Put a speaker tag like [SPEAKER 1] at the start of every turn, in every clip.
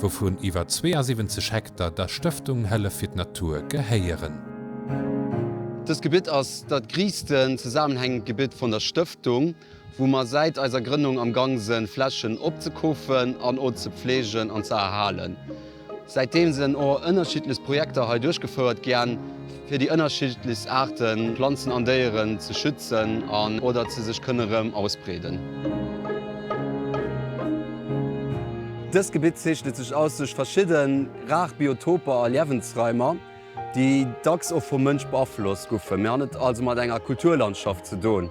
[SPEAKER 1] wouvun iwwer 72 Hektar der Stëftung Hëllef fir d'Natur gehéieren.
[SPEAKER 2] Dëst Gebitt ass dat griissten zesaammenhängend Gebitt vun der Stëftung, wou mer säit eiser Grënnung am Gang sen Flächen opzekoofen an o ze pflegen an ze erhalen. Säitdeem sen o ënnerschiddlech Projekter hei duerchgefouert gän. fir déi ënnerschiddlichst Aarte Planzen an Déieren ze schützen an oder dass se sech kënne rëm ausbreeden. Dëst Gebitt zeechnet sech aus duerch verschidde rar Biotoper a Liewensraimer, déi dacks och vum Mënsch beaflosst goufen. Mir han et also mat enger Kulturlandschaft ze doen.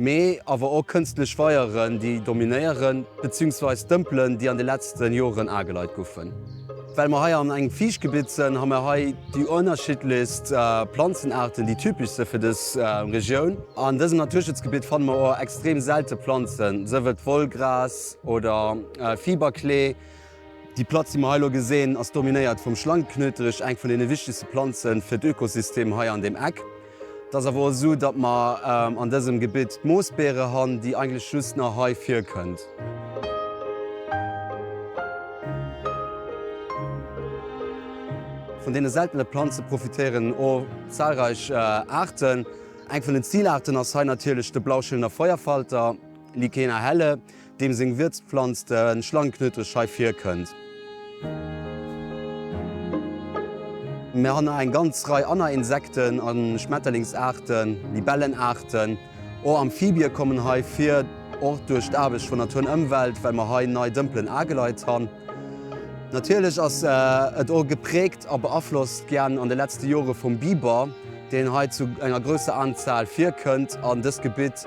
[SPEAKER 2] mee awer och kënstlech Weieren, déi dominéieren, beziungsweis Dëmpelen, déi an de letzten Joren ageleit goufen. Well mer hei an engem Fiichtgebitt sen, ha mer hei déi ënnerschiddlichst Planzenaarten, déi typisch se fir dës Regioun. An dësem Naturschutzgebitt fanne mer och extrem selte Planzen, sëf et Wollgras oder Fiberklee. Déi Platz, déi mer hei elo gesehen, ass dominéiert vum Schlangeknöterich, eng vun den wichtigste Planzen fir d'Ökosystem hei an dem Eck. Et ass awer och esou, datt mer an dësem Gebitt d'Moosbeere han, déi eigentlech just nach hei virkënnt. Vun deene seltene Planze profitéieren och zahlreich Aarten. Eng vun den Zilaarten ass hei natierlech de Blauschillenner Feuerfalter, Lycaena helle, Deem seng Wierzplanz de Schlangeknödel scheif virkënnt. Mir han nach eng ganz Rei anner Insekten a Schmetterlingsaarten, Libellenaarten. Och Amphibie kommen hei vir, och duerch d'Aarbecht vun Natur an Ëmwelt, well mer hei nei Dëmpelen ageleit han. Natierlech ass et och gepräägt a beaflosst gen an de letzte Jore vum Biber, deen hei zu enger grousser Anzahl virkënnt an dëst Gebitt.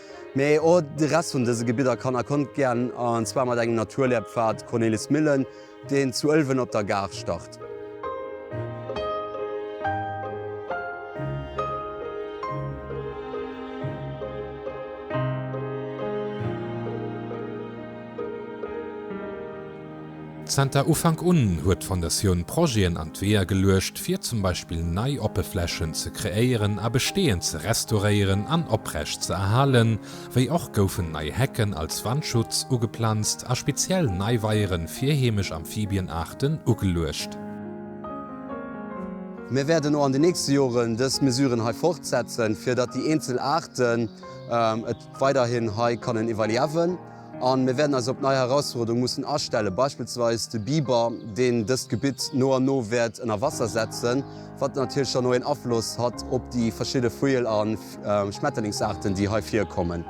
[SPEAKER 2] Mee och de Rest vun dëse Gebidder kann a konnt gären, an zwar mat engem Naturlehrpfad Cornelis Millen, deen zu Ëlwen op der Gare start.
[SPEAKER 1] Zenter Ufank un huet d'Fondatioun Projeten an d'Weeër geluecht, fir zum Beispill nei Oppeflächen ze kreéieren a besteeënd ze restauréieren an oprecht ze erhalen, wéi och goufen nei Hecken als Wandschutz ugeplanzt a speziell nei Weiere fir heemesch Amphibienaarten ugeluecht.
[SPEAKER 2] Mir wäerten och an den nächste Joren dës Mesuren hei fortsetzen, fir datt déi eenzel Aarten et weiderhin hei kannen iwwerliewen. A mir wäerten eis op nei Herausfuerderunge mussen astellen, beispillsweis de Biber, deen dëst Gebitt no an no wäert ënner Wasser setzen, wat natierlech dann och een Afloss hat op déi verschidde Vujel a Schmetterlingsaarten, déi hei virkommen.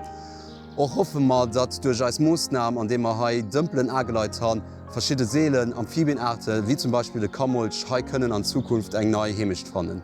[SPEAKER 2] Och hoffe mer, datt duerch eis Moossnam, andeem mer hei Dëmpelen ageleit han, verschidde seelen Amphibienaarte wéi zum Beispill de Kammolch hei kënnen an Zukunft eng nei Heemecht fannen.